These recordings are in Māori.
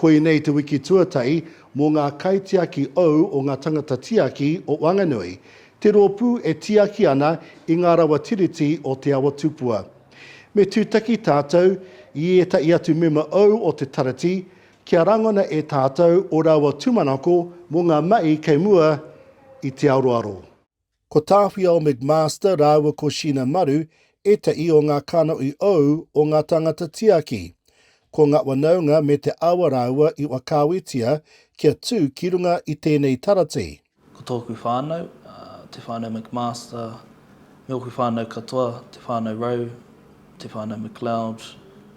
Koinei te wiki tuatahi mō ngā kaitiaki ou o ngā tangata tiaki o Wanganui, te rōpū e tiaki ana i ngā rawa Tiriti o Te Awa Tupua. Me tūtaki tātou i ētahi atu mema ou o te Tarati kia rangona e tātou o rāua tūmanako mō ngā mahi kei mua i te aroaro. Ko Tāwhiao McMaster rāua ko Sheena Maru ētahi o ngā kanohi ou o ngā tāngata tiaki. Ko ngā whanaunga me te awa rāua i whakaawetia kia tū ki runga i tēnei taratī. Ko tōku whānau, te whānau McMaster, me ōku whānau katoa, te whānau Rowe, te whānau McLeod,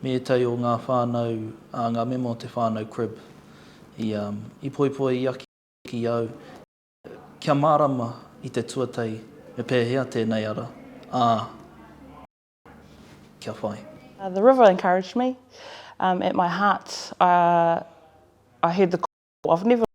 me ētahi o ngā whānau, ngā mema o te whānau Cribb, i poipoi i aki au Kia mārama i te tuatahi me pēhea tēnei ara, ā, kia whai. The river encouraged me um at my heart uh I heard the call of never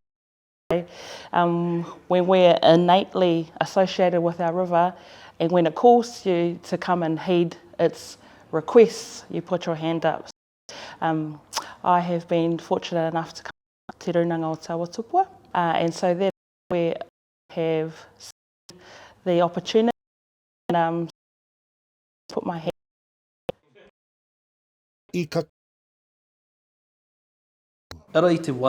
away um when we're innately associated with our river and when it calls you to come and heed its requests you put your hand up so um I have been fortunate enough to come te rūnanga o Te Awa Tupua. And so that is where I have seen the opportunity and um so I put my hand up. I ka kite mai i te wā i.